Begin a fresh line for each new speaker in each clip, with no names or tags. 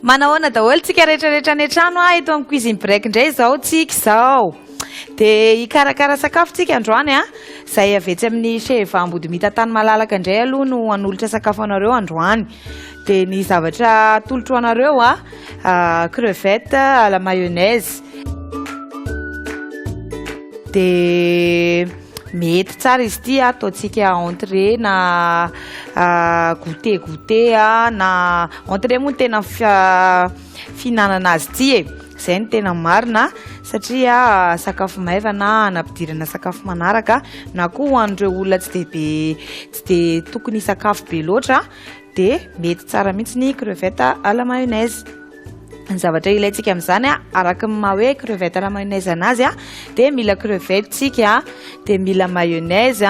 Manahoana daholo tsika rehetrarehetra any an-trano ah eto amin'ny cuisine break indray izao tsika izao. Dia hikarakara sakafo tsika androany ah. Izay avy etsy amin'ny chez Vahambodimita tany malalaka indray aloha no hanolotra sakafo anareo androany. Dia ny zavatra atolotro anareo a, ah, crevette à la mayonnaise. Dia mety tsara izy ity a, ataontsika entrée na ah, goûter goûter a, na entrée moa ny tena fi- ah, fihinanana azy ity e. Izay no tena marina satria sakafo maivana anampidirana sakafo manaraka na koa ho an'ireo olona tsy dia be tsy dia tokony hisakafo be loatra dia mety tsara mihitsy ny crevette à la mayonnaise. Ny zavatra ilaintsika amin'izany araka ny maha hoe crevette à la mayonnaise anazy dia mila crevette tsika dia mila mayonnaise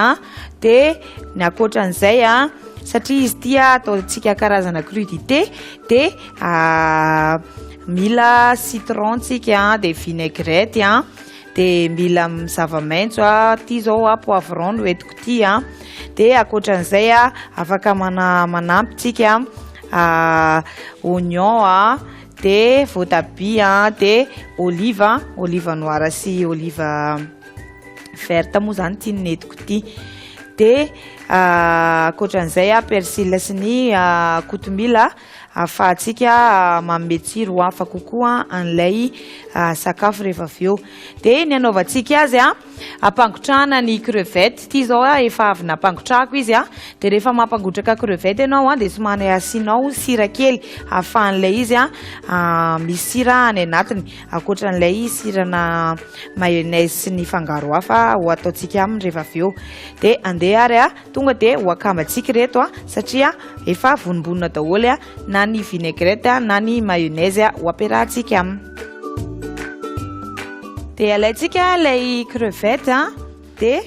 Dia ny ankoatra an'izay a, satria izy ity a ataontsika karazana crudité, dia ah, mila citron tsika a, dia vinaigrette a, dia mila m- zava-maitso a, ity zao a poivron no entiko ity a, dia ankoatra an'izay a afaka mana- manampy tsika ah, oignon a, dia voatabia a, dia olive, olive noir sy olive. verte moa zany ity netiko ity de ah, ankoatran'izay a ah, persil sy ny ah, kotomila ahafahantsika manome tsiro ho hafa kokoa an'ilay sakafo rehefa avy eo de ny anaovantsika azy a ampangotrahana ny crevette ity zao a efa avy nampangotrahako izy a de rehefa mampangotraka crevette ianao a de somary asianao sira kely ahafahan'ilay izy a misy sira any anatiny Ankoatra an'ilay sirana mayonnaise sy ny fangaro hafa ho ataontsika aminy rehefa avy eo. Dia andeha ary a, tonga dia ho akambantsika ireto a, satria efa vonombonona daholo a, na ny vinaigrette a, na ny mayonnaise a, ho ampiarahantsika aminy. Dia alaintsika ilay crevette a. dia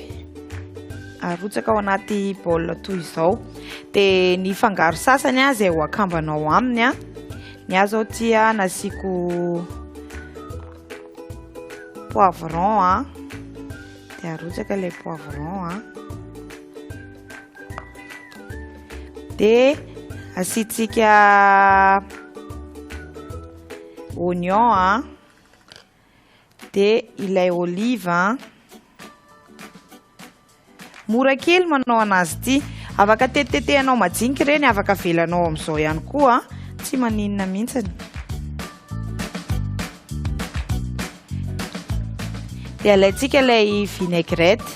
arotsaka ao anaty bol toy izao dia ny fangaro sasany a izay ho akambanao aminy a ny azy ao tia nasiako poivron a dia arotsaka ilay poivron a dia asiantsika oignon a dia ilay olive an mora kely manao anazy ity afaka tetitetehanao majinika ireny afaka avelanao amin'izao ihany koa tsy maninona mihitsiny dia alaintsika ilay vinaigrette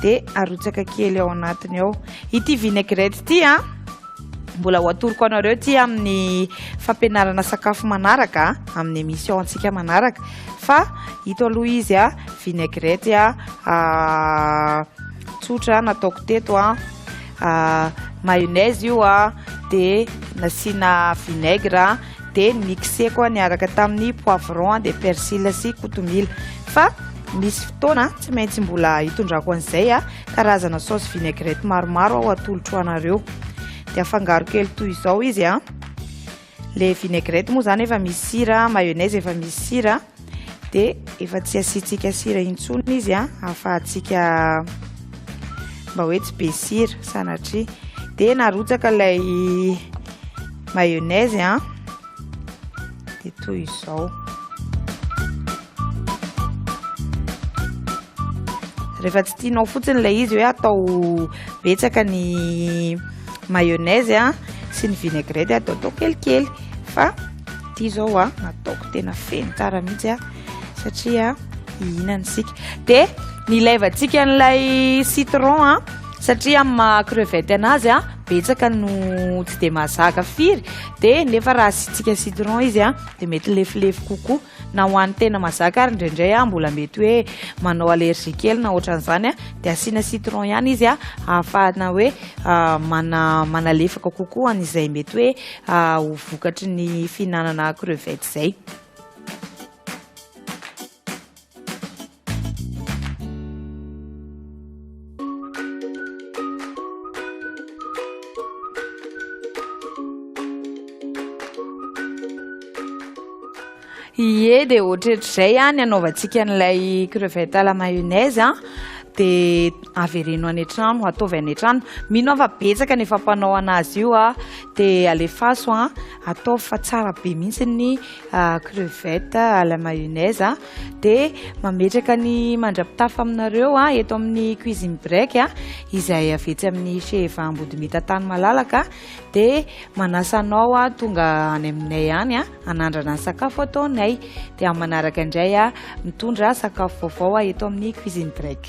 dia arotsaka kely ao anatiny ao ity vinaigrette ity an Mbola ho atoroko anareo ity amin'ny fampianarana sakafo manaraka amin'ny émission antsika manaraka fa ito aloha izy a vinaigrette a tsotra nataoko teto a mayonnaise io a dia nasiana vinaigre dia mixeko niaraka tamin'ny poivron dia persil sy kotomila fa misy fotoana tsy maintsy mbola hitondrako an'izay a karazana sauce vinaigrette maromaro aho atolotro anareo dia afangaro kely toy izao izy a le vinaigrette moa zany efa misy sira mayonnaise efa misy sira dia efa tsy asiantsika sira intsony izy a ahafahantsika mba hoe tsy be sira sanatria dia narotsaka ilay mayonnaise a dia toy izao rehefa tsy tianao fotsiny ilay izy hoe atao betsaka ny mayonnaise a sy ny vinaigrette ataotao kelikely fa ity izao a nataoko tena feno tara mihitsy a satria hihinana isika dia nilaivantsika an'ilay citron a satria amin'ny maha crevette anazy a betsaka no tsy dia mazaka firy dia nefa raha asiantsika citron izy a dia mety lefilefy kokoa Na ho an'ny tena mazaka ary indraindray aho mbola mety hoe manao allergie kely na ohatran'izany dia asiana citron ihany izy ahafahana hoe manalefaka kokoa an'izay mety hoe ho vokatry ny fihinanana crevette izay. Ie dia ohatretr'izay ah, ny anaovantsika an'ilay crevette à la mayonnaise ah, dia avereno any an-trano, ataovy any an-trano. Mino aho fa betsaka ny efa mpanao an'azy io ah, dia alefaso ah, ataovy fa tsara be mihitsy ny crevette à la mayonnaise. dia mametraka ny mandra-pitafa aminareo eto amin'ny cuisine break izay avy etsy amin'ny Sheheva Ambodimita Tany Malalaka dia manasa anao tonga any aminay any hanandrana ny sakafo ataonay dia amin'ny manaraka indray mitondra sakafo vaovao eto amin'ny cuisine break